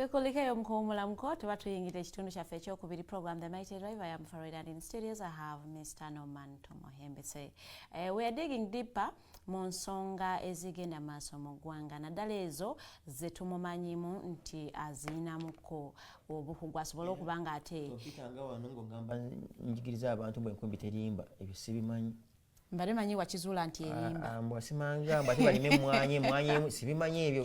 tukulike yo mukuwumula muko tuba tuyingira ekitundu kyaffe ekyokubiri program the mighty driver yam for in studios i have mr norman tomohembese uh, eh, we are digging deeper mu nsonga ezigenda maaso mu ggwanga naddala ezo ze tumumanyimu nti aziyinamuko obukugu asobole okuba nga ate okitanga wano ng'ogamba njigiriza abantu bwe nkumbi terimba ebyo sibimanyi mbade manyi wakizuula nti erimba ah, ah, mbwasimanga mbate balime emwanyi emwanyi sibimanyi ebyo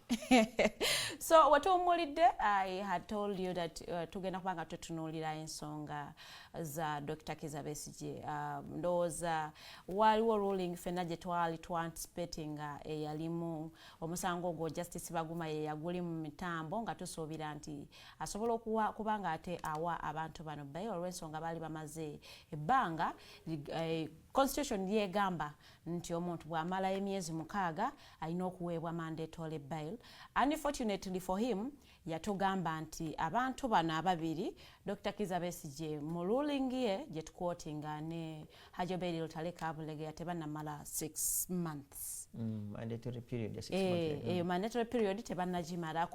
so wetuwummulidde i had told you that uh, tugenda kuba nga tutunuulira ensonga za dr kiza besigye uh, ndowooza waaliwo ruling fenna gye twali twanticipating nga eyalimu omusango ogwo justice baguma ye yaguli mu mitambo nga tusuubira nti asobola kuba nga ate awa abantu bano baye olw'ensonga baali bamaze ebbanga eh, constitution yegamba nti omuntu bwamala emyezi mukaaga alina okuweebwa mandatory bail unfortunately for him yatugamba nti abantu bano ababiri dr kiza besigye mu ruling ye gye tukwotinga ne hajoberi lutale kabulegeya tebanamala 6 months mm, mandatory period ya 6 eh, months eh, eh, mandatory period tebanagimala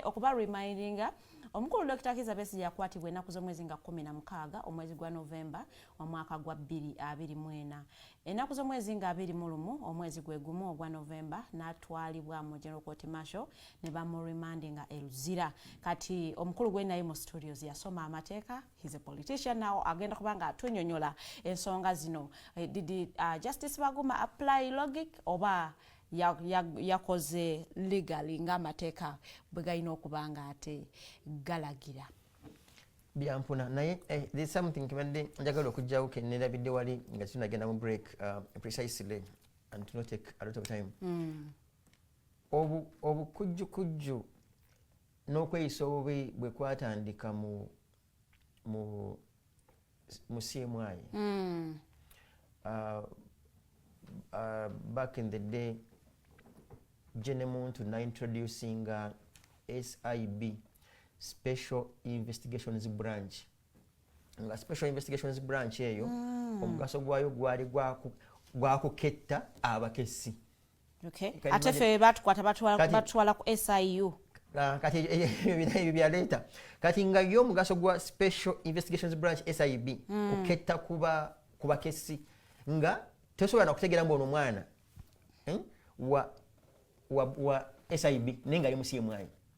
okuba remindinga omukulu dr kiza besigye yakwatibwa ennaku z'omwezi nga 16 omwezi gwa november omwaka gwa 2024 ennaku z'omwezi nga 21 omwezi gwe gumu ogwa novemba n'atwalibwa mu general court marshal ne bamuremandinga e luzira kati omukulu gwe naye mu studios yasoma amateeka his a politician now agenda kuba nga atunyonyola ensonga zino eh, did uh, justice baguma apply logic oba yakoze ya, ya legally ng'amateeka bwe galina okuba nga ate galagira byampuna naye eh, there's something kibadde njagala okujjawo kennerabidde wali nga tunagenda mu break uh, precisely and to not take a lot of time mm. obukujjukujju obu n'okweyisa obubi bwe kwatandika mu mu musyemwayi mm. uh, uh, back in the day je ne muntu naintroducinga sib special investigations branch nga special investigations branch eyo mm. omugaso gwayo gwali gwakuketta abakesi Okay. Ate fe batukwata batwala ku SIU. Ah, kati ebyo byaleeta kati nga yo omugaso gwa special investigations branch sib mm. kuketta kuba kubakesi nga tosobola nakutegera mbu ono omwana eh, wa, wa, wa sib naye nga ali musi yemwanyi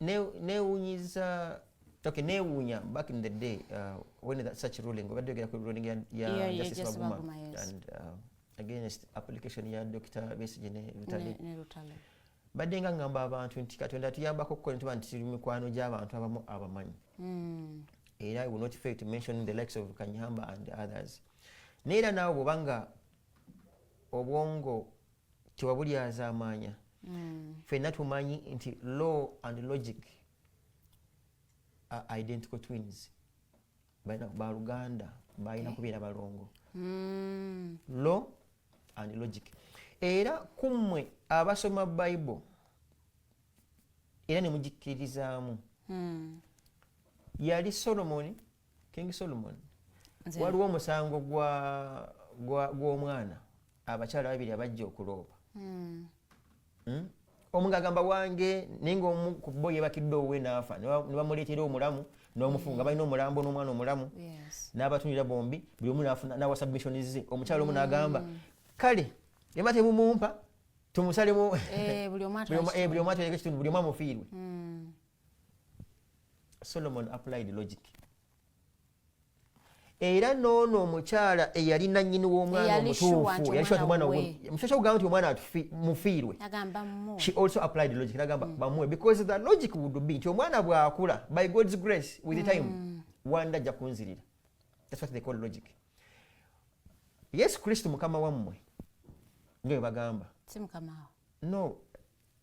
newunyiza okay newunya back in the day uh, when that such ruling obadde ogera ku ruling ya, ya yeah, justice yeah, baguma, baguma yes. and uh, against application ya dr besige ne rutale ne, ne badde nga ngamba abantu nti katonda tuyambako okukola ntuba nti tuli mikwano gy'abantu abamu abamanyi mm. era will not fail to mention the likes of kanyamba and others naye era naawe bwobanga obwongo tewabulyazaamaanya mm. fenna tumanyi nti law and logic are identical twins balina baluganda balina kubeera balongo mm. law and logic era kummwe abasoma bible era nemugikkiririzaamu mm. yali solomoni king solomon waliwo omusango gw'omwana abakyala babiri abajja okulooba hmm. hmm? omu ngagamba wange naye ngaomu ku bo yebakidde owe naafa nebamuleetera omulamu nomufunga hmm. balina omulambo n'omwana omulamu n'abatunira bombi buli omu nawa submission ze omukyala omu nagamba kale ema tebumumpa tumusalemu eh, buli omu atuleke kitundu buli omu amufiirwe solomon applied logic era noono omukyala eyali nanyini w'omwana omutuufu yalishoa omwana musasha kugamba nti omwana mufiirwe she also applied logic nagamba mm. bamuwe because the logic would be nti omwana bw'akula by god's grace with the mm. time wanda ajja kunzirira that's what they call logic yesu kristo mukama wammwe nga bwe bagamba no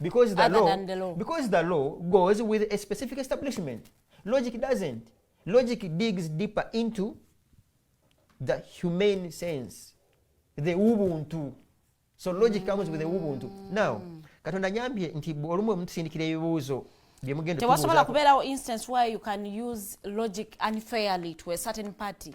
because the Other law than the law. because the law goes with a specific establishment logic doesn't logic digs deeper into the humane sense the ubuntu so logic mm. comes with the ubuntu now katonda nyambye nti olumu omutusindikira ebibuuzo byemugendatewasobola kubeerawo instance where you can use logic unfairly to a certain party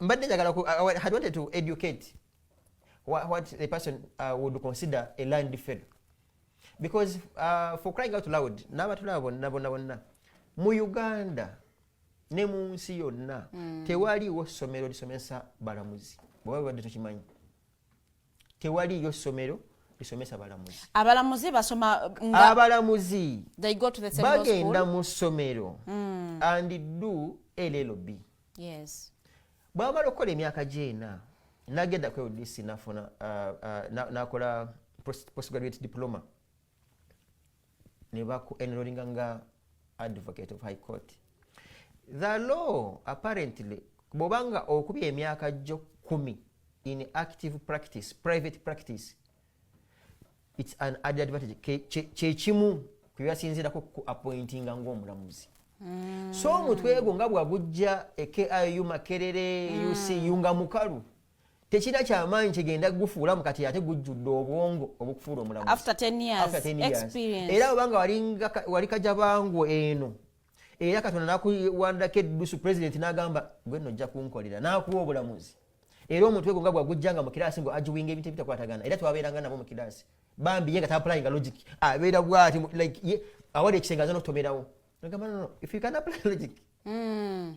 mbadde njagala had wanted to educate what, what the person uh, would consider a land fail because uh, for crying out loud n'abatulaba bonna bonna bonna mu uganda ne mu nsi yonna mm. tewaliiwo ssomero lisomesa balamuzi bweba bibadde tukimanyi tewaliiyo ssomero lisomesa balamuzi abalamuzi basoma nga abalamuzi bagenda mu ssomero mm. and do llb yes bwamala okukola emyaka gyena nagenda ku udc nafuna uh, uh, nakola postgraduate diploma nebaku enrolinga nga advocate of high court the law apparently bwobanga okubya emyaka gyo kumi in active practice private practice its an added advantage kyekimu kwebasinzirako ku appointinga ngaomulamuzi mm. so omutwe gwo nga bwagujja e kiu makerere mm. ucu nga mukalu tekirina kyamaanyi kigenda gufuula mu kati ate gujjudde obwongo obukufuula omulamuzi era obanga wali kajabangu eno era katonda nakuwandako eddusu pulezidenti nagamba gwe no ojja kunkolera nakuwa obulamuzi era omutwe gwo nga gwagujja nga mukiraasi mbu agiwinga ebintu ebitakwatagana era twabeeranga nabo mukiraasi bambi ye nga tapulayinga logic abeera bwati awali ekisenge aza nokutomerawo nagamba no if you can apply logic mm.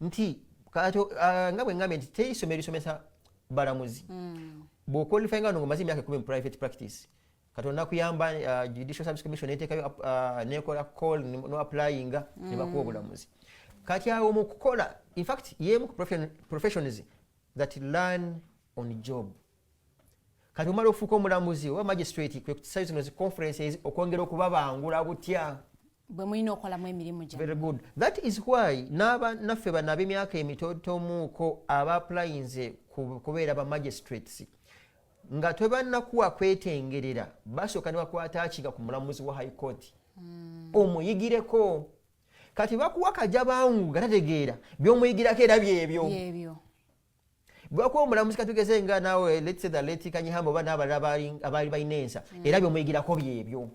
nti ah, nga bwe ngambye nti teri ssomero lisomesa balamuzi hmm. bwokwalify nga nomaze emyaka ekumi mu private practice katonda nakuyamba ah, judicial service commission netekayo ah, nekola call no applying hmm. nebakuwa obulamuzi kati awo mukukola infact yemu professions that learn on job kati omala okufuuka omulamuzi oba magistrate kwekusayo zino zi conferences okwongera okubabangula butya bwemulina okolamu emirimu very good that is why naffe bano abemyaka emitotomuuko abaplayinze kubeera ba magistrates nga twebanakuwa kwetengerera basooka ne bakwata akiga ku mulamuzi wa high court hmm. omuyigireko kati bakuwa kajabangu nga tategeera byomuyigirako era byebyo bwakuba omulamuzi katugeze nga nawe let's say the late kanyihamba oba n'abalala abaali balina ensa mm. era byomuyigirako byebyo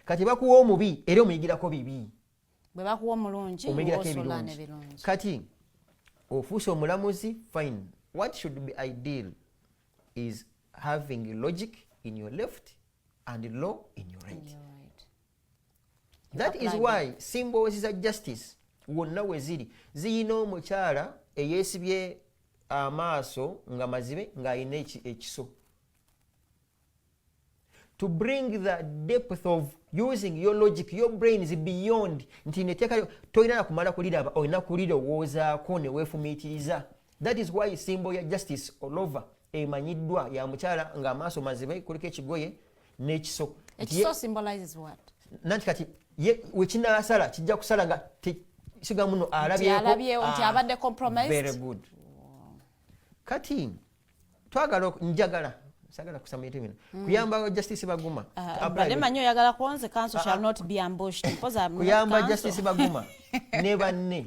kati bakuwa omubi era omuyigirako bibi bwebakuwa omulungi omuyigirako ebirungi kati ofuuse omulamuzi fine what should be ideal is having logic in your left and law in your right, in your right. that is why simboozi za justice wonna we ziri ziyina omukyala eyeesibye amaaso nga mazibe ng'alina ekiso to bring the depth of using your logic your brain is beyond nti neteeka tolina nakumala kuliraba olina kulirowoozaako neweefumiitiriza That is why symbol ya Justice Olova emanyiddwa ya mukyala nga amaaso mazibe kuliko ekigoye n'ekiso. Ekiso symbolizes what? Nanti kati ye wekinasala kijja kusala nga siga muno alabyeko nti ah, abadde compromised. Very good. Kati twagala njagala sagala kusama ebintu bino mm. kuyamba justice baguma ah, ah, bade manyo yagala kuonze council shall not be ambushed because I'm kuyamba justice baguma ne banne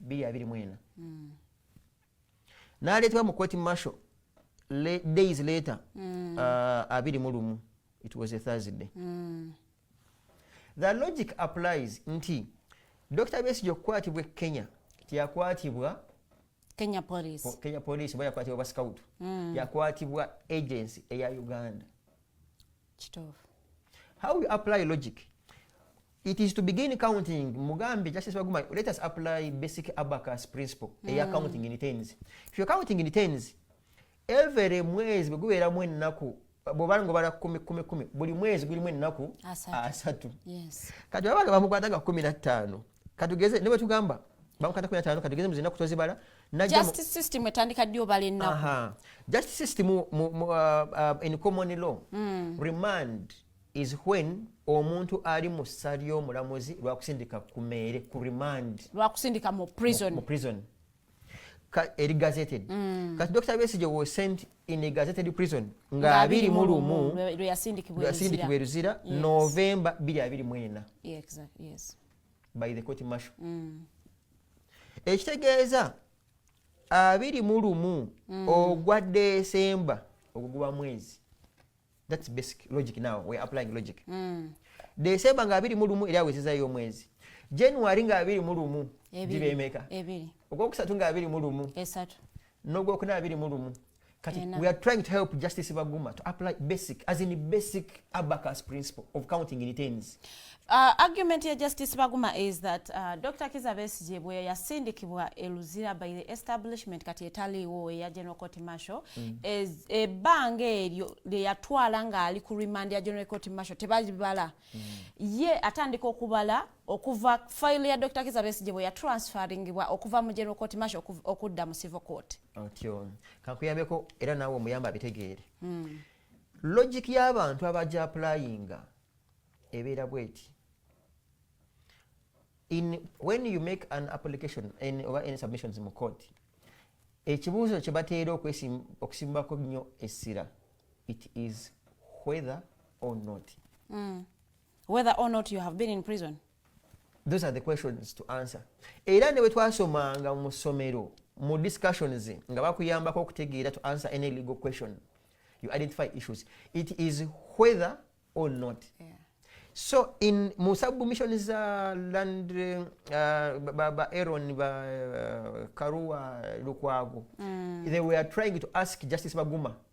biri abiri mwena mm. naleetebwa mu kweti marshal le, days later mm. uh, abiri mu lumu it was a thursday mm. the logic applies nti dr besigye okukwatibwa e kenya tiyakwatibwa kenya police kenya police oba yakwatibwa bascout mm. yakwatibwa agency eya uganda kituufu how you apply logic it is to begin counting mugambe justice waguma let us apply basic abacus principle mm. eya counting in tens if you're counting in tens every mwezi bwe gubeeramu ennaku bwobala nga obala kumi kumi kumi buli mwezi gulimu ennaku asatu kati baba nga bamukwata nga kumi na ttaano katugeze ne bwetugamba bankata kumi ataano katugeze muzina kutozibala just system etandika ddi obala ennaku just system uh, uh, in common law mm. remand is when omuntu ali mu ssa ly'omulamuzi lwakusindika ku meere ku remand lwakusindika mu prison, mu, mu prison. eri gazetted mm. kati dr besigye was sent in a gazetted prison nga abiri mu lumu lweyasindikibwa eruzira novemba biri abiri mwena yes. by the court marshal mm. ekitegeeza abiri mu lumu mm. ogwa desemba ogwo guba mwezi thats basic logic now weare applying logic mm. desemba nga abiri mu lumu eri awezezayo omwezi january nga abiri mu lumu gibemeka ogwokusatu nga abiri mu lumu nogwokuna abiri mu lumu kati yeah, we are trying to help justice baguma to apply basic as in basic abacus principle of counting returns Uh, argument ya Justice Baguma is that uh, Dr. Kiza Besigye bwe yasindikibwa e Luzira by the establishment kati etaliiwo eya General Court Martial mm. ebbanga e eryo lye yatwala ng'ali ku remand ya General Court Martial tebabala mm. ye atandika okubala okuva file ya Dr. Kiza Besigye bwe ya transferringibwa okuva mu General Court Martial okudda mu Civil Court. Otyo. Kakuyambeko era nawe omuyamba abitegeere. Mm. Logic y'abantu abaja applyinga ebeera bweti. In when you make an application in over any submissions mu court ekibuuzo kye bateera okusimbako nnyo essira it is whether or not mm. whether or not you have been in prison those are the questions to answer era ne bwe twasomanga mu ssomero mu discussions nga bakuyambako okutegeera to answer any legal question you identify issues it is whether or not yeah. so in mu submission za land uh, ba, ba aron ba uh, karua lukwago mm. they were trying to ask justice baguma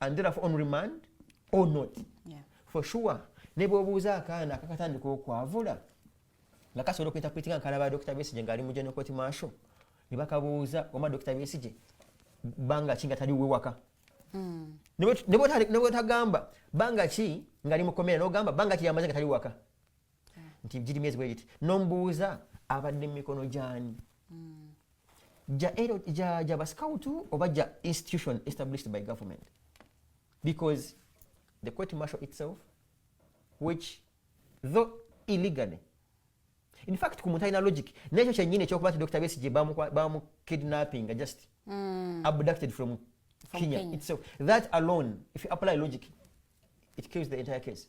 and therefore on remand or not yeah. for sure ne bwobuuza akaana akakatandika okwavula nga kasobola okuinterpretinga nkalaba dokita besije ngaali mu general court marshal ne bakabuuza oma dokita besije banga ki nga tali wewaka hmm. ne bwetagamba banga ki ngaali mu komera nogamba banga ki yamaze nga tali waka nti giri myezi bwegiti nomubuuza abadde mumikono gyani mm. ja basikawutu oba ja institution established by government because the court marshal itself which though illegally in fact ku muntu alina logic nekyo kyenyini ekyokuba nti dr besige bamukidnappinga just mm. abducted from, from kenya, kenya itself that alone if you apply logic it kills the entire case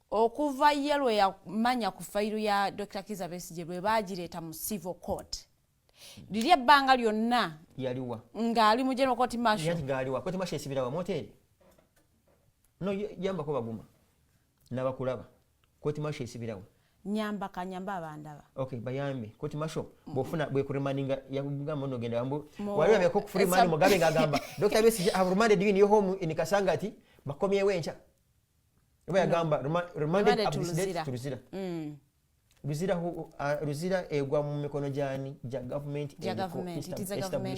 okuva ye lwe yamanya ku fayiru ya dr kiza besigye lwe bagireeta mu civil court liri ebbanga lyonna yaliwa ng'ali mu general court marshal ng'aliwa court marshal esibira wa moteri no yambako baguma nabakulaba court marshal esibirawo nyamba kanyamba abandaba okay bayambe koti masho bofuna bwe kurimaninga yakubuga mono genda yambu wali abe ko free man mugabe ngagamba doctor besi have reminded you in your home in kasangati bakomye wencha oba yagamba remanded up this date to luzira mm. luzira uh, luzira egwa mu mikono gyani gya government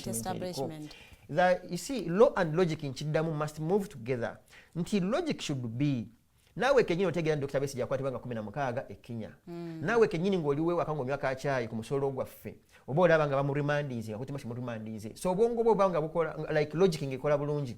establishment the you see law and logic nkiddamu must move together nti logic should be naawe kenyini otegeera nti dokita besigye akwatibwa nga kumi na mukaaga e kenya mm. naawe kenyini ng'oliwo ewaka ng'onywa ka kyayi ku musolo gwaffe oba olaba nga bamuremandinze nga kutima kimuremandinze so obwongo bwo obanga bukola like logic ng'ekola bulungi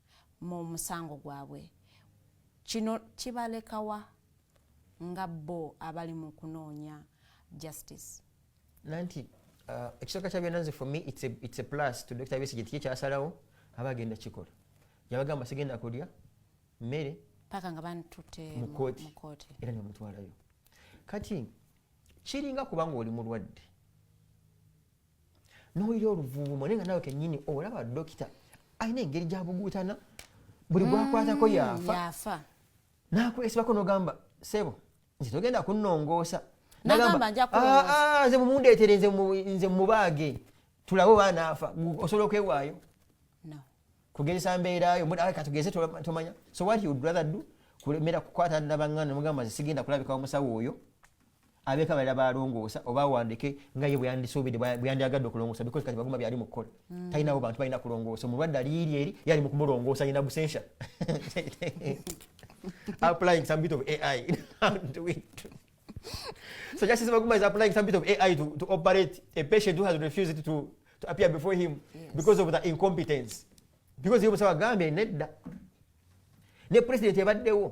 mu musango gwabwe kino kibalekawa nga bo abali mu kunoonya justice nanti uh, ekisooka kya byananze for me it's a, it's a plus to dr besigye tiye kyasalawo aba agenda kikola yabagamba sigenda kulya mmere paka nga bantute mukooti era nemutwalayo kati kiringa kubanga oli mulwadde n'owulira oluvuuvumo naye nga nawe kennyini olaba dokita alina engeri gyabuguutana buli gwakwatako mm, yaafa nakwesibako nogamba sebo nze togenda kunnongoosa nagamba ah, ah, nze mumundeetere nze mubaage tulabe oba naafa osobola okwewaayo kugezesa mbeerayo katugeze tomanya so what you would rather do kulemera kukwata nabangana nomugamba nze sigenda kulabika omusawo oyo abeeko abalala balongoosa oba awandike nga ye bweyandisuubidde bweyandyagadde okulongoosa bikozi kati baguma byali mukukola mm. talinawo bantu balina kulongoosa omulwadde aliiri eri yali mukumulongoosa yina busensha applying some bit of ai so justice baguma is applying some bit of ai to, to operate a patient who has refused to, to appear before him yes. because of the incompetence because yomusawa agambye nedda ne president ebaddewo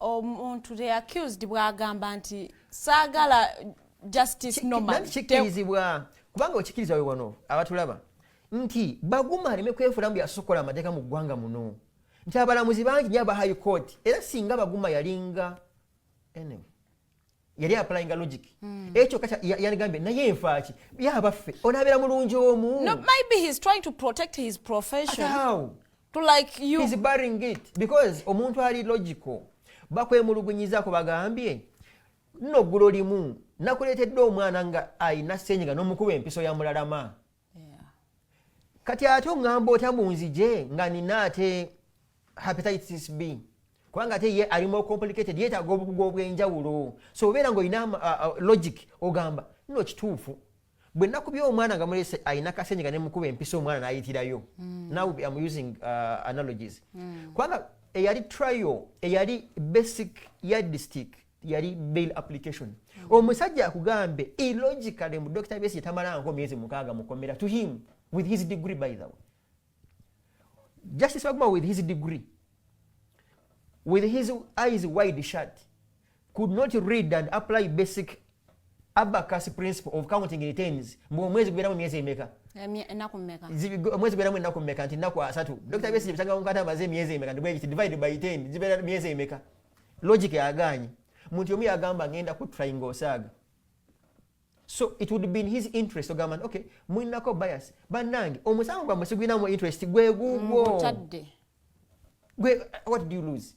omuntu the accused bwagamba nti saagala justice normal kikirizibwa kubanga okikiriza we wano abatulaba nti baguma aleme kwefula mbu yasokola amateeka mu ggwanga muno nti abalamuzi bangi nyo aba high court era singa baguma yalinga anyway yali aplyinga logic hmm. ekyo kacha yaligambye naye nfaaki yabaffe onabeera mulungi omu no, maybe he's trying to protect his profession At how? to like you he's barring it because omuntu ali logical bakwemulugunyizako bagambye nno ggulo limu nakuleetedde omwana nga alina senyiga n'omukuba empiso ya mulalama kati ate oŋŋamba otya mu nzije nga nina ate hepatitis b kubanga ate ye ali more complicated yeetaaga obukugu obw'enjawulo so obeera ng'olina uh, uh, logic ogamba nno kituufu bwe nakubye omwana nga mulese alina kasenyiga ne mukuba empisa omwana n'ayitirayo mm. now am using uh, analogies mm. kubanga eyali trial eyali basic yardstick yali bail application mm. omusajja akugambe illogically mu dr besi yetamalanko myezi mukaaga mukomera to him with his degree by the way justice baguma with his degree with his eyes wide shut could not read and apply basic abacus principle of counting returns mbu omwezi guberamu myezi emeka omwezi guberamu enaku meka nti naku asatu dr besi byetagamba mukata amaze emyezi emeka ndibwegiti divide by ten gibera myezi emeka logic yagaanyi muntu omu yagamba ngenda ku trying osaaga so it would be in his interest ogamba nti okay mulinako bias bannange omusango gwammwe sigulinamu interest gwe gugwo gwe what do you lose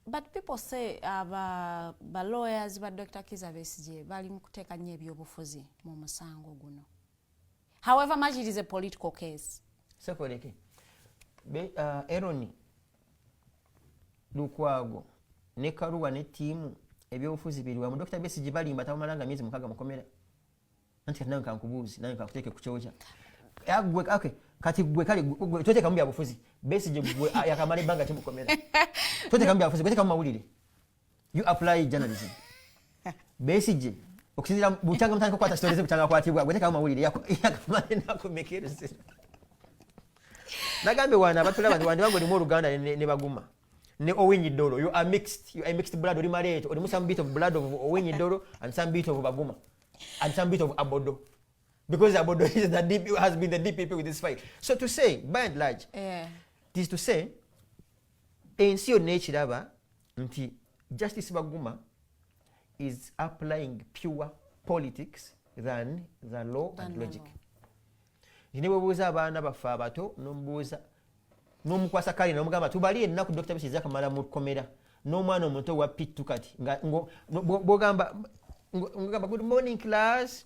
but people say uh, ba, ba lawyers ba dr kiza besigye bali mu kuteeka nnyo ebyobufuzi mu musango guno however much it is a political case sekoleke be uh, eroni lukwago ne karuwa ne tiimu ebyobufuzi biri wamu dokita besigi balimba tabamalanga myezi mukaga mukomera anti kati nawe nkankubuuzi nawe nkakuteeke ku kyoja agwe okay kati gwe kale gwe tote kambi abufuzi base je gwe ah, yakamale banga timukomera tote kambi abufuzi gwe te kamawulire you apply journalism besigye okusinzira bukyanga mutandika okukwata story ze bukyanga akwatibwa gwe tekawo mawulire yakamale nakumekerezera nagambye wana abatulaba nti wandibange olimu oluganda ne baguma ne owinyi dolo you are mixed you are mixed blood oli maleeto olimu some bit of blood of owinyi dolo and some bit of baguma and some bit of abodo because abodo is the DP, has been the dpp with this fight so to say by and large yeah. this to say ensi yonna ekiraba nti justice baguma is applying pure politics than the law and logic nti nebwebuuza abaana baffe abato nomubuuza nomukwasa kale nomugamba tubali ennaku dr bisi zakamala mu kkomera n'omwana omuto wa pittu kati bwogamba good morning class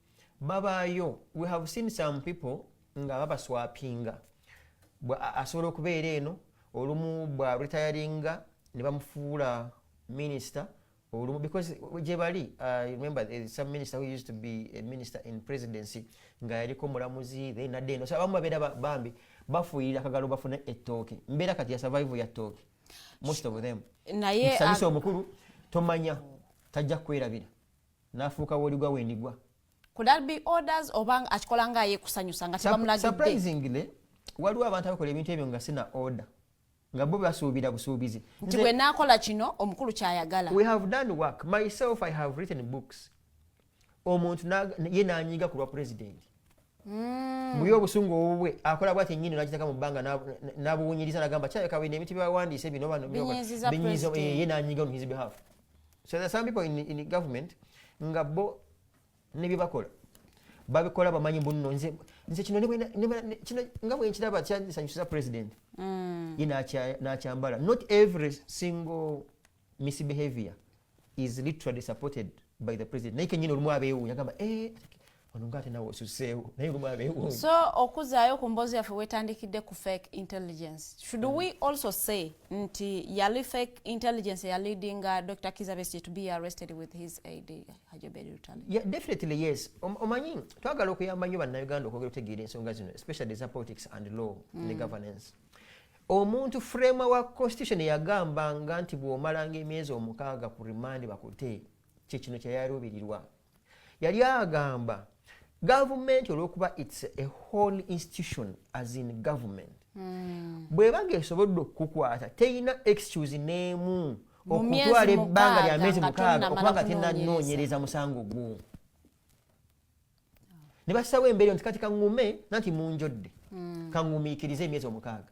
babaayo we have seen some people nga babaswapinga asobola okubeera eno olumu bwa retiringa ne bamufuula minister olumu because gyebali uh, remember eh, some minister who used to be a minister in presidency nga yaliko mulamuzi then adde eno so abamu babeera bambi bafuuyira akagalo bafune ettooke mbeera kati ya survival ya ttooke most of them naye mukisanyusa omukulu tomanya tajja kukwerabira nafuuka woligwa wendigwa could that be orders oba akikola nga ye kusanyusa nga tebamulagidde surprisingly waliwo abantu abakola ebintu ebyo nga sina order nga bo basuubira busuubizi nti bwe naakola kino omukulu kyayagala we have done work myself i have written books omuntu ye nanyiga ku lwa pulezidenti hmm. muye obusungu obubwe akola bwati enyini nakitaka mu bbanga nabuwunyiriza nagamba kyayokabwene ebintu byawandiise bino bano binyiza eh, ye nanyiga on his behalf so there some people in, in government nga bo nebyebakola babikola bamanyi bunno nze nze kino kino nga bwenkiraba kyasanyusiza president mm. ye nakyambala not every single misbehavior is literally supported by the president naye kenyini olumu abeewuunya gamba eh, ono nga ate nawe osuseewo naye lumu abeewo so okuzaayo ku mboozi yaffe wetandikidde ku fake intelligence should mm. we also say nti yali fake intelligence ya leading uh, dr kizabesi to be arrested with his aid hajoberi rutale yeah, definitely yes omanyi um, twagala okuyamba nnyo bannayuganda okwogera otegeera ensonga zino especially eza politics and law mm. ne governance omuntu frema wa constitution yagambanga nti bw'omalanga emyezi omukaaga ku remand bakute kyekino kyeyaluubirirwa yali agamba gavumenti olwokuba its a whole institution as in government hmm. bwebaga esobodde okukukwata terina excuse n'emu okutwala ebbanga lya myezi mukaaga okuba nga tenanoonyereza musango gwo ne bassawo embeera nti kati kaŋume nanti munjodde hmm. kaŋumiikiriza emyezi omukaaga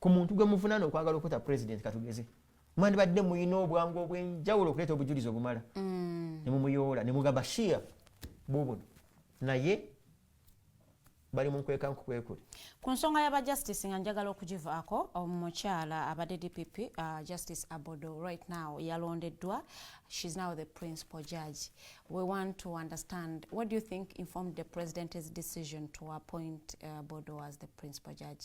ku muntu gwe muvunaana okwagala okuta president katugeze mwandibadde muyina obwangu obwenjawulo okuleeta obujulizi obumala mm. nemumuyoola nemuga bashir bubuno naye bali munkweka nkukwekuli ku nsonga yaba justice nga njagala okugivaako omukyala abadde dpp uh, justice abodo right now yalondeddwa she's now the principal judge we want to understand what do you think informed the president's decision to appoint uh, abodo as the principal judge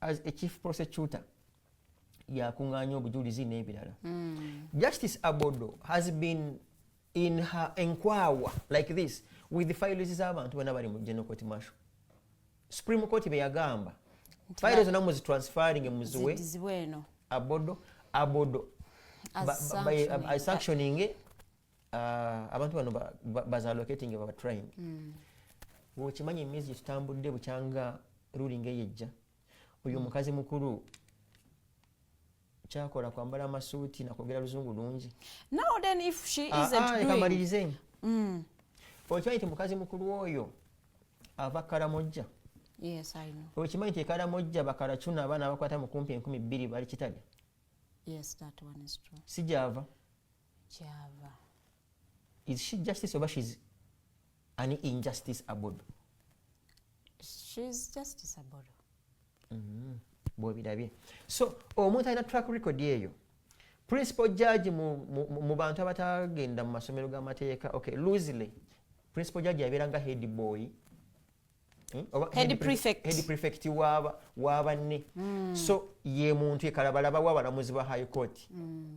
as a chief prosecutor yakunganya obujulizi n'ebirala mm. justice abodo has been in her enkwawa like this with the files z'abantu bona bali mu general court marshal supreme court beyagamba file zona muzitransferring muziwe abodo abodo sanctioning Ah, abantu bano bazalocating baba trying hmm. ngaokimanyi emyezi gyetutambudde bukyanga ruling eyo ejja oyo hmm. omukazi mukulu kyakola kwambala amasuuti nakwogera luzungu lungi kamalirize ah, ah, hmm. okimanyi nti mukazi mukulu oyo ava karamojja okimanyi nti ekaramojja bakaracuna abaana abakwata mukumpi enkumi bbiri bali kitalya sijava kyava is she justice oba she's an injustice abodo she's justice abodo mm -hmm. bwobirabye so omuntu alina track record eyo principal judge mu, mu, mu bantu abatagenda mu masomero g'amateeka okay loosely principal judge yabeera nga head boy hmm? prefect wabanne hmm. so ye muntu ekalabalaba wabalamuzi ba high court hmm.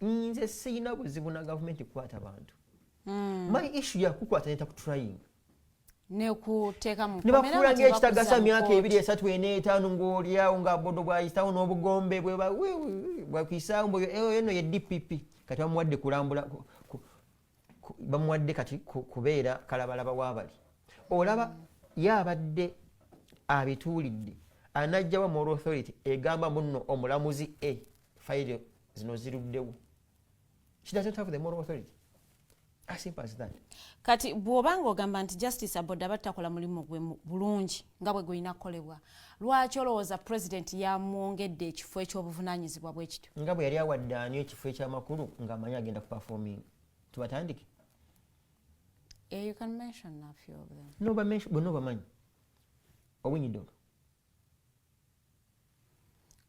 nze siyina buzibu na gavumenti kukwata bantu hmm. my issu yakukwata neta kutraying nebakulanga ekitagasa myaka ebiri esatu ena etaano ngaolyawo nga bodo bwayitawo n'obugombe bwebakwisaawo mbu eno ye dpp kati bamuwadde kulambula bamuwadde kati kubeera kalabalaba wabali olaba ye abadde abituulidde anajjawa moral authority egamba muno omulamuzi a fayiro zino ziruddewo she doesn't have the moral authority kati bw'oba ng'ogamba nti justice aboda battakola mulimu gwe bulungi nga bwe gulina kukolebwa lwaki olowooza pulezidenti yamwongedde ekifo eky'obuvunanyizibwa bwe kityo nga bwe yali awadde ani ekifo ekyamakulu ng'amanyi agenda ku performing tubatandike eh, bonna obamanyi owinyido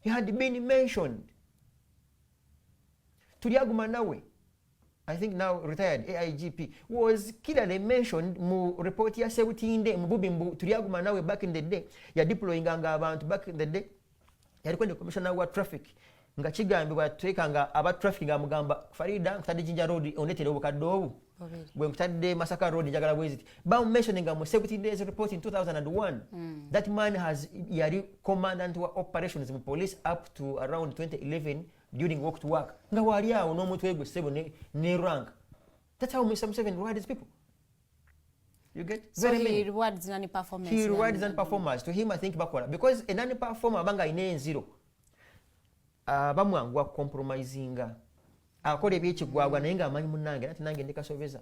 he had been mentioned tulyaguma nawe i think now retired aigp was clearly mentioned mu report ya sebutinde mububi mbu tulyaguma nawe back in the day ya deployinga nga abantu back in the day yali kwende commissioner wa traffic nga kigambibwa tweka nga aba traffic nga mugamba farida nkutadde jinja road onetera obukadde obu gwe nkutadde masaka road njagala bweziti bamumensioninga mu security days report in 2001 mm. that man has yali commandant wa operations mu police up to around 2011 during walk to work nga wali awo n'omutwe gwe sebo ne, ne rank that's how mr museven rewards people You get so very he many. rewards nani performance. He rewards nani performers. To him, I think bakola because a nani performer banga ine zero. aba mwangu akompromisinga akola ebyekigwagwa naye ngaamanyi munange nati nange ndi kasobeza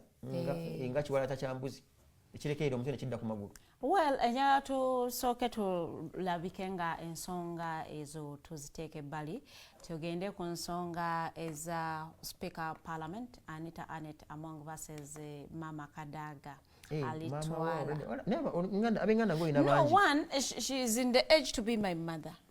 nga eh. kiwala takyambuzi ekirekeera omutwe nekidda ku magulu well enjala tusooke tulabike nga ensonga ezo tuziteeka ebbali tugende ku nsonga eza speaker parliament anita anet among verses eh, mama kadaga Eh, alitwala abenganda ngoyina bangi no one she is in the age to be my mother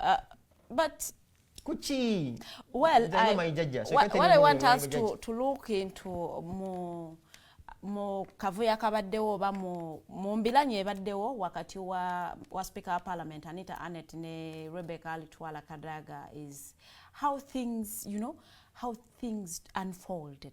uh, but kuki well I, my judge, so what, what i want us to, to look into mu mu kavuyo akabaddewo oba mu mbilanyi ebaddewo wakati wa, wa speaker wa parliament anita anet ne rebecca alitwala kadaga is how things you know how things unfolded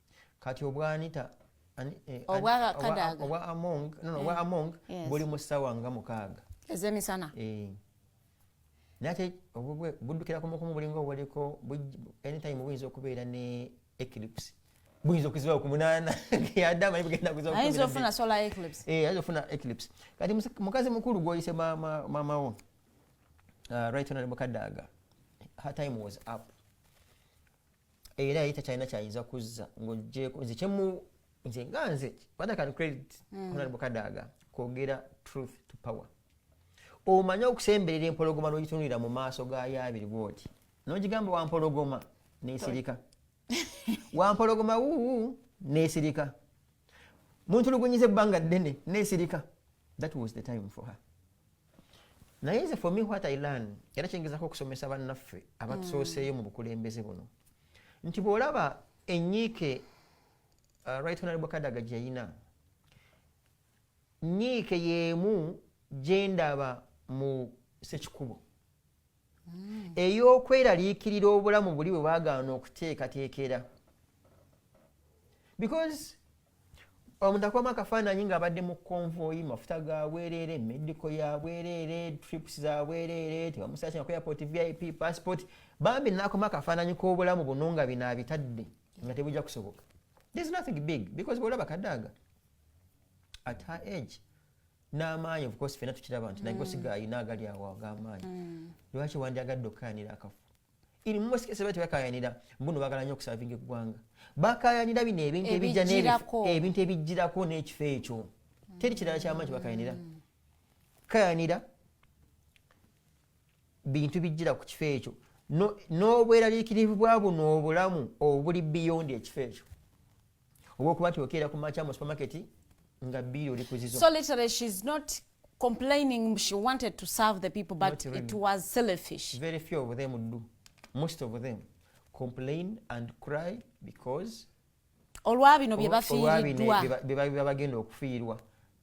kati obwanita eh, obwa among eh. buli mu ssaawa nga mukaaga ezemisana eh. naye ate buddukira kumukumu bulinga obuliko anytime buyinza okubeera ne eclipse buyinza okuzibawo ku munaana adama ayinza ofuna eclipse kati mukazi mukulu gwoyise maama wo uh, right honorable kadaaga her time was up era yali takyalina kyayinza kuzza ng'ogyeko nze kyemu nze nga nze whether can credit mm. honorable kadaga kwogera truth to power omanye okusemberera empologoma n'ogitunulira mu maaso gayo abiri bwoti n'ogigamba wampologoma nesirika wampologoma wuu nesirika muntulugunyiza ebbanga ddene nesirika that was the time for her naye nze for me what i learn era kyengezako okusomesa bannaffe abatusooseeyo mu bukulembeze buno nti bw'olaba enyiike uh, right honorable kadaga gyeyina nyiike yeemu gyendaba mu sekikubo mm. ey'okweraliikirira obulamu buli bwe bagaana okuteekateekera because omuntu akubamu akafaananyi ng'abadde mu konvoyi mafuta ga bwereere mediko ya bwereere trips za bwereere tebamusakina ku airport vip passport bambi nakoma akafaananyi k'obulamu buno nga bino abitadde nga tebujja kusoboka there's nothing big because bwolaba kadaaga at her age n'amaanyi of course fena tukiraba nti naye mm. osiga ayina agali awo ag'amaanyi mm. lwaki wandyagadde okukayanira akafu iri mumasikese bati bakayanira mbuno bagala nyo okusavinga eggwanga bakayanira bino ebintu ebijja ebintu ebijjirako n'ekifo ekyo mm. teri kirala kyamaanyi kibakayanira kayanira bintu bijjira ku kifo ekyo n'obweraliikirivu bwa buno obulamu obuli biyondi ekifo ekyo oba okuba nti okeera ku makya mu supermarket nga biiri oli kuzizo so literally she's not complaining she wanted to serve the people but really. it was selfish very few of them do most of them complain and cry because olwabino byebafiiriddwa bebagenda okufiirwa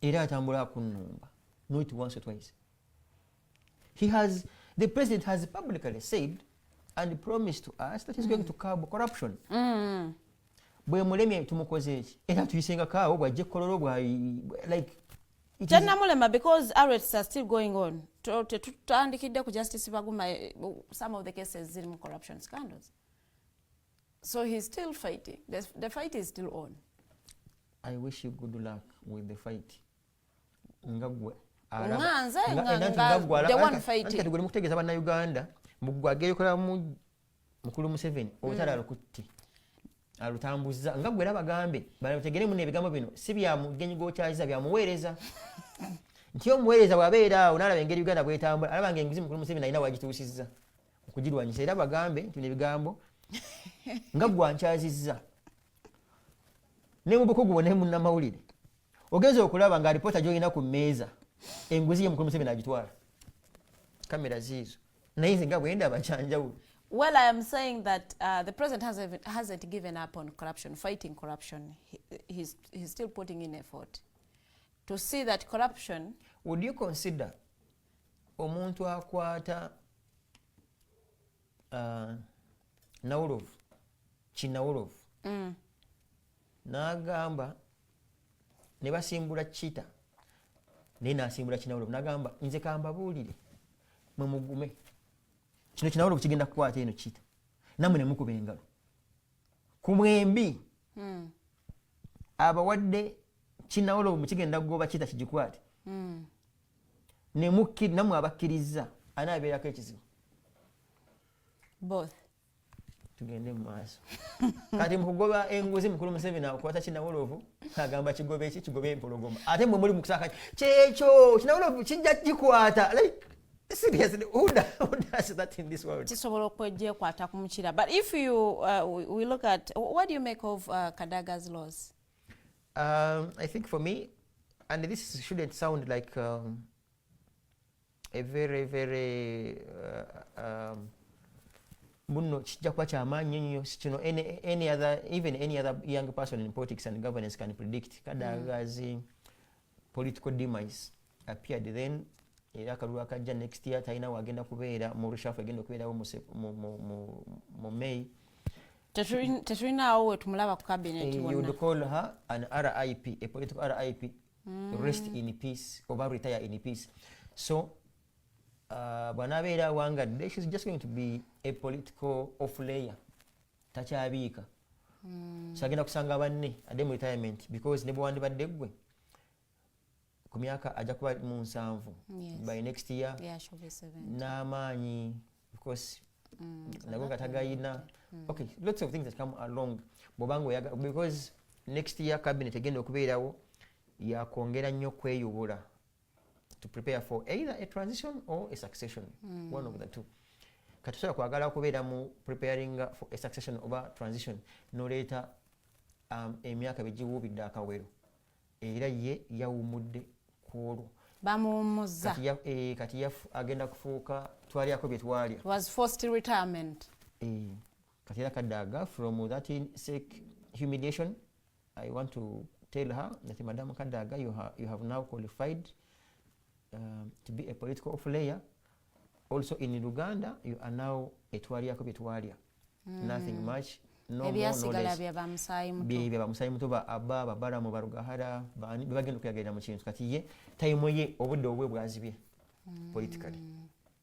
era atambula akunnumba not once or twice he has the president has publicly said and promised to us that he's going to curb corruption mm. bwe mulemye tumukoze eki era tuyisenga kaawo bwajje kololo bwa like tennamulema because arrests are still going on tetutandikidde ku justice baguma eh, some of the cases ziri mu corruption scandals So he's still fighting. The, the fight is still on. I wish you good luck with the fight. Ngagwe. Nganze ngagwe. The one fighting. Ngagwe mukutegeza bana Uganda. Mugwa geyo kola mu mukulu Museveni. Mm. Otara lukuti. Alutambuza. Ngagwe laba gambe. Bana mutegere mune bigambo bino. Sibi ya mugenyi go chaza bya muwereza. Ntiyo muwereza wabeera unala bengeri Uganda bwetambula. Alaba ngenguzi mukulu Museveni ina wajitusiza. okugirwanyisa era bagambe nti bino ebigambo nga gwankyazizza ne mu bukugu bwona munnamawulire ogenza okulaba nga alipoota gyolina ku mmeeza enguzi ye mukulu museveni agitwala kamera ziizo naye nze nga bwendaba kyanjawulo Well, I am saying that uh, the president hasn't, hasn't given up on corruption, fighting corruption. He, he's, he's still putting in effort to see that corruption. Would you consider omuntu akwata uh, nawolovu kinawolovu mm. nagamba ne basimbula kita naye nasimbula kinawolovu nagamba nze kambabuulire mwe mugume kino kinawolovu kigenda kukwata eno kita namwe ne mukuba engalo ku mwembi mm. abawadde kinawolovu mukigenda kugoba kita kigikwate mm. nemukki namwe abakkirizza ani abeerako ekizibu both tugende mu maaso kati mukugoba enguzi mukulu museveni akwata kinawolovu agamba kigoba eki kigoba empologoma ate mwe muli mukusaka kyekyo kinawolovu kijja kikwata like seriously who does, who does that in this world kisobola okwejekwata ku mukira but if you uh, we look at what do you make of uh, kadaga's laws Um, I think for me, and this shouldn't sound like um, a very very uh, um, muno kijja kuba kyamaanyi nnyo sikino any other even any other young person in politics and governance can predict kadagazi mm. political demise appeared then era akalulu akajja next year talina wagenda kubeera mu rushafu egenda okubeerawo mu may tetulinaawo wetumulaba ku cabinet eh, would call her an rip a political rip mm. rest in peace oba retire in peace so uh, bwanabeera awangadde she's just going to be a political off layer takyabiika hmm. so agenda kusanga banne adde mu retirement because nebwewandibadde ggwe ku myaka ajja kuba mu nsanvu by next year n'amaanyi because mm, nago nga tagayina mm. okay lots of things that come along bwobanga oyaga because next year cabinet egenda okubeerawo yakwongera nnyo kweyubula to prepare for either a transition or a succession mm. one of the two katusobola kwagala okubeera mu preparing for a succession oba transition noleeta um, emyaka begiwuubidde akawero era ye yawumudde kwolwo bamuwumuzza kati, ya, e, kati ya, agenda kufuuka twalyako byetwalya was forced retirement e. kati era kadaaga from that sick humiliation i want to tell her nati madam kadaaga you, ha, you have now qualified uh, to be a political player also in luganda you are now etwalyako byetwalya mm. nothing much ebyasigala bya bamusaayi muto ba aba babalamu barugahara bebagenda okuyagerera mu kintu kati ye tayimu ye obudde obwe bwazibye hmm. politically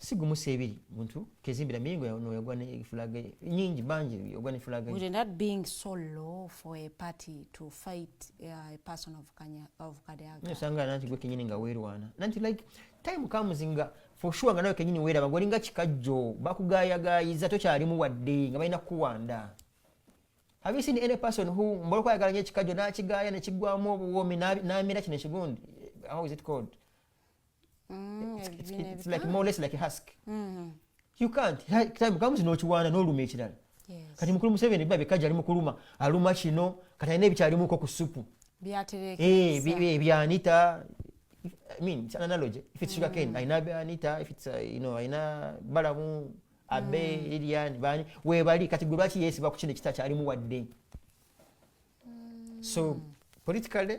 sigumu sebiri muntu kezimbira mingo ya no yagwa ne fulage nyingi banji yagwa ne fulage would not being so low for a party to fight uh, a person of kanya of kadaga no sanga nanti gwe kinyini nga werwana nanti like time comes nga for sure nga nawe kinyini wera bagori nga kikajjo bakugaya gayiza to kyali mu wadde nga bayina kuwanda have you seen any person who mbolo kwa yagala nyekikajjo na kigaya ne kigwa mu obuwomi na na mira kine kigundi how is it called mm, it's like more less like husk mm-hmm. you can't time comes nokiwaana noluma ekirala kati mukulu museveni biba bikaji ali mukuluma aluma kino kati alina ebikyalimuko ku supu ebyanita I mean, it's an analogy. If it's sugar cane, mm. aina be anita. If it's uh, you know aina balamu abe mm. Lilian bani we bali kati gwe lwaki yeesiba ku kino ekita kyalimu wadde mm. so politically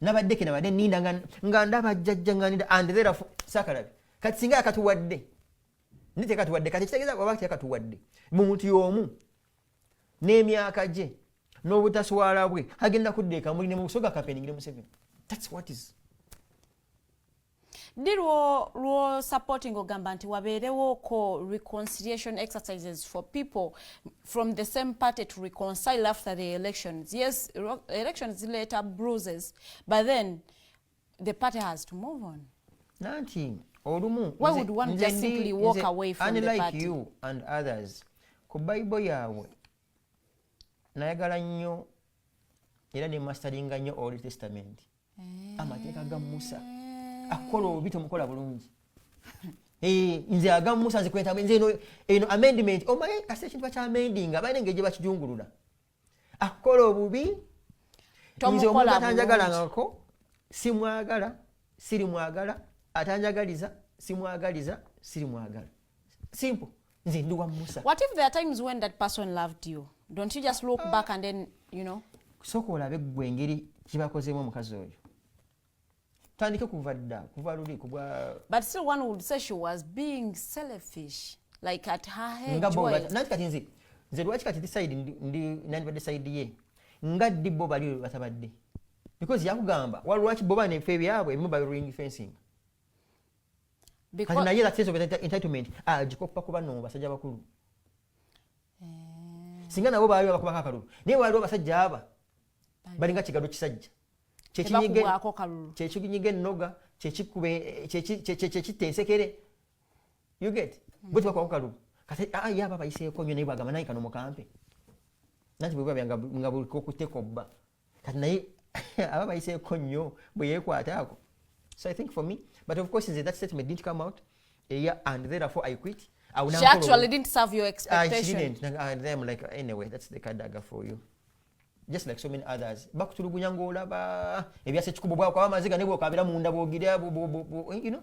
nabadde kenabadde ninda nga ndaba jjajja nga ninda and therefo sakalabi kati singa yakatuwadde ndi tekatuwadde kati ekitegeeza waba tekatuwadde mu muntu y'omu n'emyaka gye n'obutaswala bwe agenda kudda ekamuli ne mu busoga kapeningire museveni thats what is ddi lwo lwo supporting ogamba nti wabeerewo ko reconciliation exercises for people from the same party to reconcile after the elections yes elections zileeta bruises but then the party has to move on nanti olumu why would one just simply walk away from the party unlike you and others ku bible yaabwe nayagala nnyo era ne mastaringa nnyo old testament eh. amateeka ga musa akukola obi tomukola bulungi eh, nze aga musa nze kwetabu nze eno eno amendment omanyi kasi ekintu bakya amendinga balina engeri gye bakijungulula akukola obubi nze omuntu atanjagalangako simwagala sirimwagala atanjagaliza simwagaliza sirimwagala simple nze ndi wa musa what if there are times when that person loved you don't you just look back and then you know soka olabe gwe engeri kibakozemu omukazi oyo tandike kuva dda kuva luli kubwa but still one would say she was being selfish like at her head nga bo nanti kati nze nze lwaki kati decide ndi nani ba decide ye nga ddi bo bali batabadde because yakugamba walwaki bo bane fe byabwe mu by ring fencing kati naye era sense of entitlement agikoppa ah, kuba no basajja bakulu eh. singa nabo baayo abakubako akalulu naye waliwo abasajja aba balinga kigalo kisajja kyekinyiga ennoga kyekitta ensekere you get hmm. bwe tibakubako kalulu kati ah, ye aba bayiseeko nyo naye bwagamba naye kano mukampe nanti bweba nga buliko okutekobba kati naye aba bayiseeko nnyo bwe yeekwataako so i think for me but of course nze that statement didn't come out eya and therefore i quit She actually didn't serve your expectation. Uh, she didn't. And then I'm like, anyway, that's the kadaga for you. just like so many others bakutulugunya ng'olaba ebyasa ekikubo bwakwaba amaziga ne bwokabira munda bwogira you know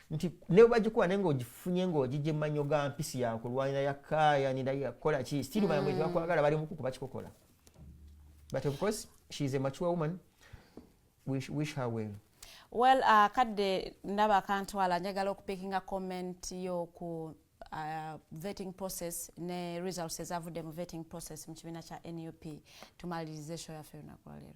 nti ne bagikuwa naye ng'ogifunye ng'ogijja emmanyo ga mpisi yakulwanira yakaayanira yakukola ki still balamu mm. tebakwagala bali mukuku bakikokola but of course she is a mature woman wish, wish her well well uh, kadde ndaba akantwala njagala okupikinga comment yo ku uh, vetting process ne results ezavudde mu vetting process mu kibiina kya nup tumaliriza esho yaffe olunaku lwaleero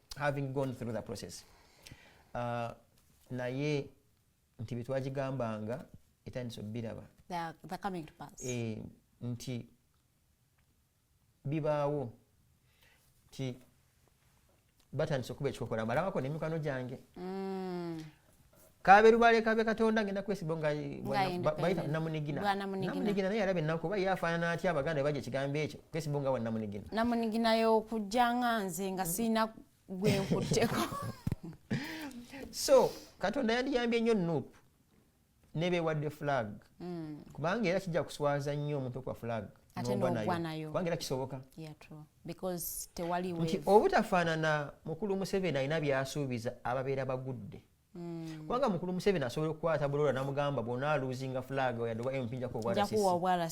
having gone through the process uh, naye nti byetwagigambanga etandisa obiraba eh, nti bibaawo nti batandisa okuba ekikokola malabako nemikwano gyange mm. kabe lubale kabe katonda ngenda kwesibo nga baita namunigina namunigina naye arabe nako ba yafanana atya abaganda baje kigambo ekyo kwesibo nga wana namunigina namunigina yo kujanga nze nga sina gwe nkuteko so katonda yandi yambye nyo nup nebe wadde flag mm. kubanga era kijja kuswaza nnyo omuntu kwa flag ate n'ogwa nayo kubanga era kisoboka nti obutafaanana mukulu museveni alina byasuubiza ababeera bagudde hmm. kubanga mukulu museveni asobola okukwata bulola namugamba bwona aluzinga flag yadde oba mp njakuwaasobola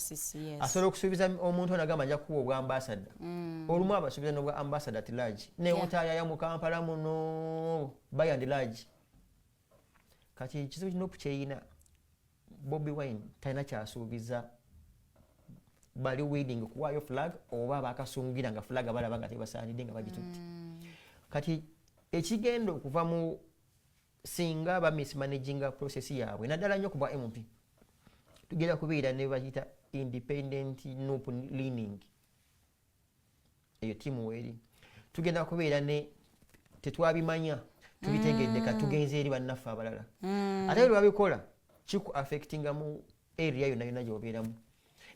okusuubiza omuntu onagamba nja kuwa obwa ambasada hmm. olumu abasuubiza nobwa ambasada at large naye otayaya mu kampala muno bayand large kati ekizibu nup kyeyina bobi wine talina kyasuubiza bali wedding kuwaayo flag oba abakasungira nga flag balaba nga tebasaanidde nga bagitutte mm. kati ekigenda okuva mu singa ba mismanaginga process yaabwe naddala nnyo kuba mp tugenda kubeera ne bakiyita independent nup leaning eyo tiimu weeri tugenda kubeera ne tetwabimanya tubitegedde ka mm. tugenze eri bannaffe abalala mm. ate lwabikola kiku affectinga mu area yonna yonna gyobeeramu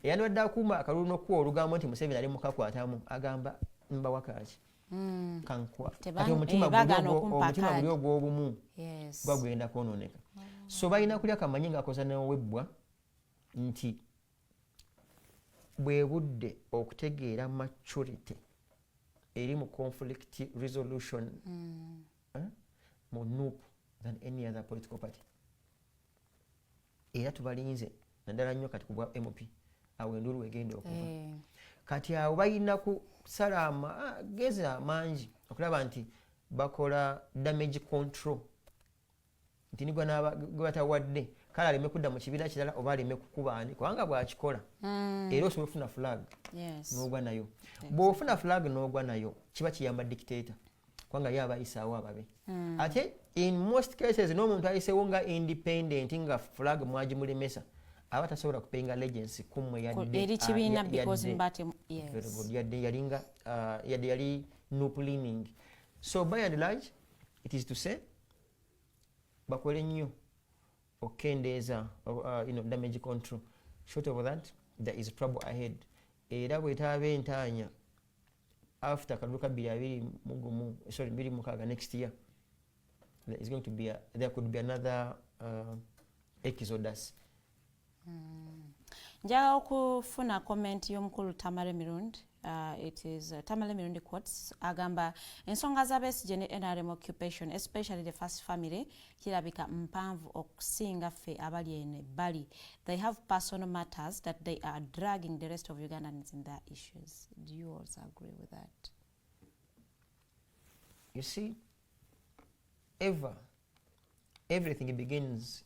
eyandibadde akuuma akalulu nokuwa olugambo nti museveni ali mukakwatamu agamba mbawa kaaki mm. kankwa ati eh, omutima guli ogwobumu gwagwenda kwononeka so balina kulya kamanyi ngaakoza newebbwa nti bwe budde okutegeera maturity eri mu conflict resolution mm. eh, mu nup than any other political party era tubalinze naddala nnyo kati kubwa mp awo endulu egenda okuva eh. kati awo balina kusala amagezi amangi okulaba nti bakola damage control nti nigwe batawadde kale aleme kudda mu kibiina kirala oba aleme kukubaani kubanga bwakikola mm. era osobola ofuna flag nogwa nayo bwofuna flag nogwa nayo kiba kiyamba dictator kubanga ye abayisaawo ababe mm. ate in most cases n'omuntu ayisewo nga independent nga flag mwagimulemesa aba tasobola kupenga legency kumwe yadde yalinga uh, yadde yali nuplining so by and large it is to say bakole nnyo okukendeeza uh, damage control short of that there is trouble ahead era bwetaaba entaanya after kalulu ka bbiri abiri mugumu sorry bbiri mukaaga next year there is going to be a, there could be another uh, exodus Mm. njaga okufuna comment y'omukulu tamale mirundi Uh, it is uh, Tamale Mirundi quotes agamba ensonga za Besigye ne NRM occupation especially the first family kirabika mpanvu okusinga ffe abali ene bali they have personal matters that they are dragging the rest of Ugandans in their issues do you also agree with that you see ever everything begins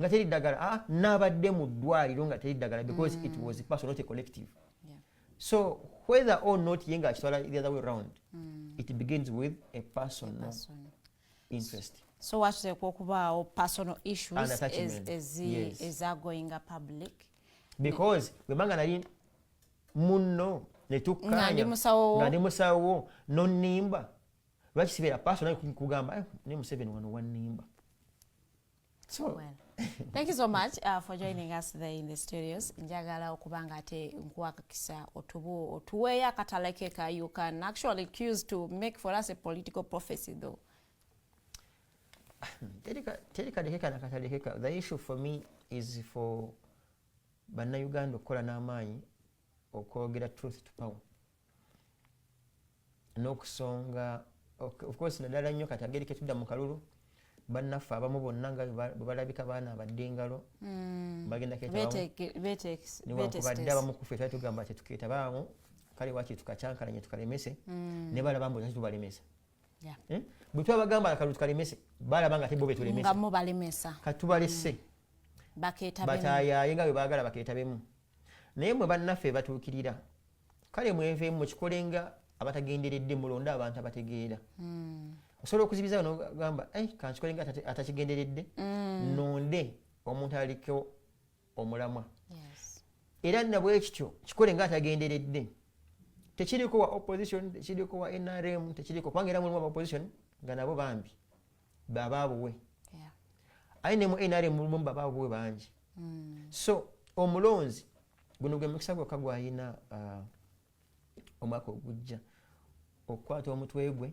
nga teri ddagala ah, nabadde mu ddwaliro nga teri ddagala because it was person not a collective so whether or not ye nga akitwala the other way round mm. it begins with a personal interest so wateekwa okubaawo personal issues ezagoinga public because webanga nali munno netukkanya nga ndi musawo nonimba lwaki sibeera paso naye kugamba eh, ne museveni wano wanimba so well. thank you so much uh, for joining us there in the studios njagala okuba nga ate nkuwakakisa otubu otuweeyo akatalake ka you can actually choose to make for us a political prophecy though teri kadekeka na katadekeka the issue for me is for bannayuganda okukola n'amaanyi okwogera truth to power n'okusonga ofcourse naddala nnyo kati ageri ketudda mu kalulu bannaffe abamu bonna nga bwebalabika baana abadde engalo hmm. bagendanewankubadde abamu kufe tali tugamba tetuketabaamu kale waki tukakyankalanye tukalemese hmm. ne balaba mbu tubalemesa eh? bwe twabagamba akalulu tukalemese balaba nga tebo betulemesa katubalese hmm. batayaye nga bwe bagala baketabemu naye mwe bannaffe batuukirira kale mwenveemu mukikolenga abatagenderedde mulonde abantu abategeera hmm. osobola okuzibiza nogamba eh, kankikolenga atakigenderedde hmm. nonde omuntu alikewo omulamwa era nabwekityo kikole nga atagenderedde tekiriko wa opposition tekiriko wa nrm tekiriko kubanga era mulimu abaopposition nga nabo bambi bababuwe aye ne mu nrm mulimu bababuwe bangi hmm. so omulonzi guno gwe mukisa gwokka gwalina uh, omwaka ogujja okukwata omutwe gwe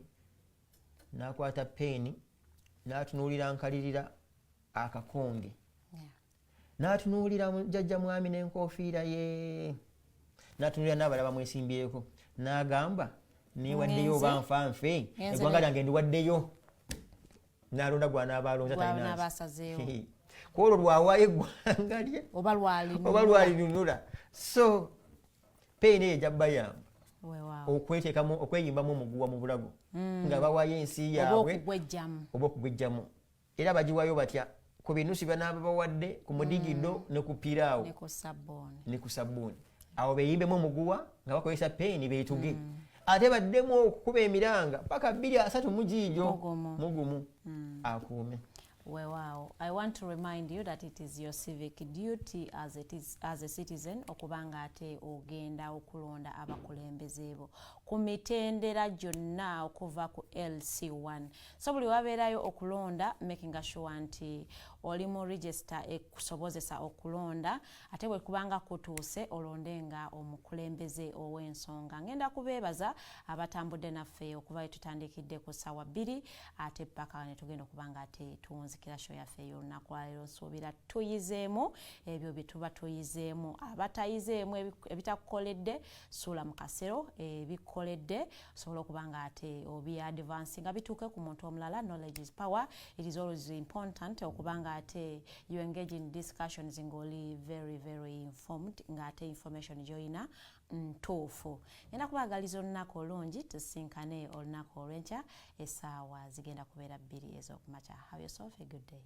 n'akwata peeni n'atunuulira nkalirira akakonge n'atunuulira jajja mwami n'enkofiira ye n'atunuulira n'abalala bamwesimbyeko n'agamba newaddeyo oba nfa nfe eggwanga lyange ndiwaddeyo nalonda gwanaaba alonza talinabasazeewo kwolwo lwawaayo eggwanga lye oba lwalinunula so peyina eyo ejabbayamba okwetekamu okweyimbamu omuguwa mu bulago mm. nga bawayo ensi yaabwe oba okugwejjamu era bagiwayo batya ku binusu byanaaba bawadde ku mudigido mm. ne ku piraawo ne ku sabbuuni awo beyimbemu omuguwa nga bakozesa peeni betuge mm. ate baddemu okukuba emiranga paka bbiri asatu mugiijo mugumu mm. akuume wewaawo i want to remind you that it is your civic duty as, it is, as a citizen okuba nga ate ogenda okulonda abakulembeze bo ku mitendera gyonna okuva ku lc1 so buli wabeerayo okulonda making sure nti oli mu register ekusobozesa okulonda ate bwekubanga kutuuse olonde nga omukulembeze ow'ensonga ngenda kubeebaza abatambudde naffe okuba wetutandikidde ku ssaawa bbiri ate paka netugenda okuba nga ate tuwunzikira sho yaffe ey'olunaku lwaleero nsuubira tuyizeemu ebyo byetuba tuyizeemu abatayizeemu ebitakukoledde suula mu kasero ebikukoledde osobola okuba nga ate obi advance nga bituuke ku muntu omulala knowledge is power it is always important okuba nga ate you engage in discussions ng'oli very very informed nga ate information gy'olina ntuufu ngenda kubaagaliza olunaku olungi tusinkane olunaku olw'enkya essaawa zigenda kubeera bbiri ez'okumakya have yourself a good day